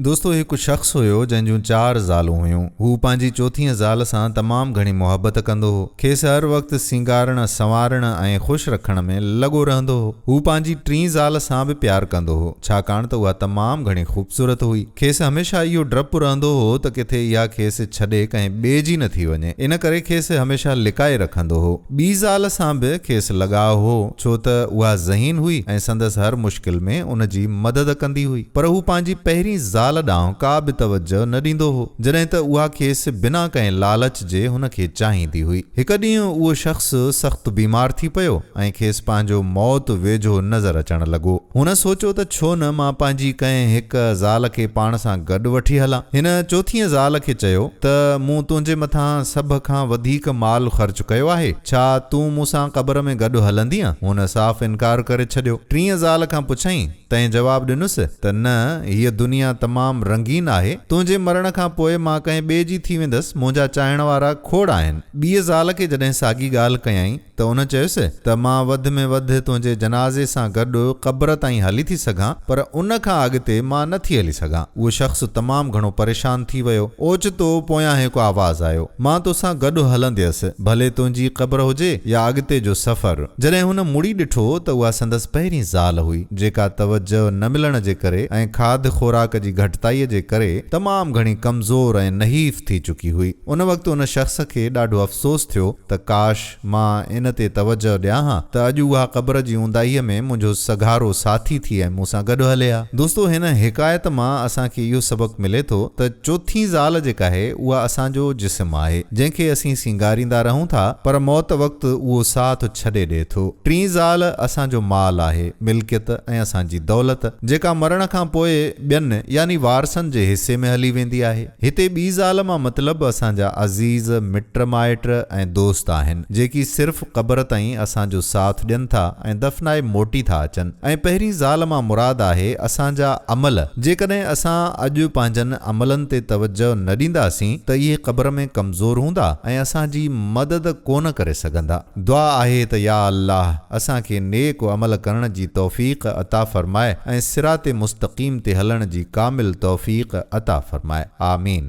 دوستو هڪ شخص هيو جنهن جون چار زالون هيون. هو پنهنجي چوٿين زال سان تمام گهڻي محبت ڪندو هو. کيس هر وقت سينگارڻ، سنوارڻ ۽ خوش رکڻ ۾ لڳو رهندو هو. هو پنهنجي ٽين زال سان به پيار ڪندو هو، ڇاڪاڻ ته اها تمام گهڻي خوبصورت هئي. کيس هميشه اهو ڊپ رهندو هو ته ڪٿي اها کيس ڇڏي ڪنهن ٻئي جي نه ٿي وڃي. ان ڪري کيس هميشه لڪائي رکندو هو. ٻي زال سان به کيس لڳاء هو. ڇو ته اها ذهين هئي ۽ سندس هر مشڪل ۾ ان جي مدد ڪندي هئي. پر هو پنهنجي پهرين زال ڏانهن ڪا به توجهه نه ڏيندو هو، جڏهن ته اها کيس بنا ڪنهن لالچ جي هن کي چاهيندي هئي. هڪ ڏينهن اهو شخص سخت بيمار ٿي پيو ۽ کيس پنهنجو موت ويجهو نظر اچڻ لڳو. هن سوچيو ته ڇو نه مان پنهنجي ڪنهن هڪ زال کي پاڻ سان گڏ وٺي هلان. هن چوٿينء زال کي چيو ته مون تنهنجي مٿان سڀ کان وڌيڪ مال خرچ ڪيو آهي. ڇا تون مون سان قبر ۾ گڏ هلندينء؟ هن صاف انڪار ڪري ڇڏيو. ٽينء زال کان پڇيائين، تنهن جواب ڏنس ته نه، هيء دنيا تمام رنگين آهي، تنهنجي مرڻ کان پوء مان ڪنهن ٻئي جي ٿي ويندس، منهنجا چاهڻ وارا کوڙ آهن. ٻيء زال کي جڏهن ساڳي ڳالهه ڪيائين ته ان چيس ته مان وڌ ۾ وڌ تنهنجي جنازي سان گڏ قبر تائين هلي ٿي سگهان، پر ان کان اڳتي مان نه ٿي هلي سگهان. اهو شخص تمام گهڻو پريشان ٿي ويو. اوچتو پويان هڪ آواز آيو. مان توسان گڏ هلنديس، ڀلي تنهنجي قبر هجي يا اڳتي جو سفر. جڏهن هن مڙي ڏٺو ته اها سندس پهرين زال هئي، جيڪا توجه نه ملڻ جي ڪري ۽ کاڌ خوراڪ جي گهٽتائيء جي ڪري تمام گهڻي ڪمزور ۽ نحيف ٿي چڪي هئي. ان وقت ان شخص کي ڏاڍو افسوس ٿيو ته ڪاش! مان ان تي توجهه ڏيان ها ته اڄ اها قبر جي اونداهيء ۾ منهنجو سگهارو ساٿي ٿي ۽ مون سان گڏ هلي ها. دوستو! هن حڪايت مان اسان کي اهو سبق ملي ٿو ته چوٿين زال جيڪاهي اها اسان جو جسم آهي، جنهن کي اسين سينگاريندا رهون ٿا، پر موت وقت اهو ساٿ ڇڏي ڏئي ٿو. ٽين زال اسان جو مال آهي، ملڪيت ۽ اسان جي دولت، جيڪا مرڻ کان پوء ٻين يعني وارثن جي حصي ۾ هلي ويندي آهي. هتي ٻي زال مان مطلب اسان جا عزيز مٽ مائٽ ۽ دوست آهن، جيڪي صرف قبر تائين اسان جو ساٿ ڏين ٿا ۽ دفنائي موٽي ٿا اچن ۽ پهرين زال مان مراد آهي اسان جا عمل، جيڪڏهن اسان اڄ پنهنجن عملن تي توجهه نه ڏينداسين ته اهي قبر ۾ ڪمزور هوندا ۽ اسان جي مدد ڪونه ڪري سگهندا. دعا آهي ته يا الله اسان کي نيڪ عمل ڪرڻ جي توفيق عطا فرماء ۽ صراط مستقيم تي هلڻ جي ڪامل توفيق عطا فرماء. آمين.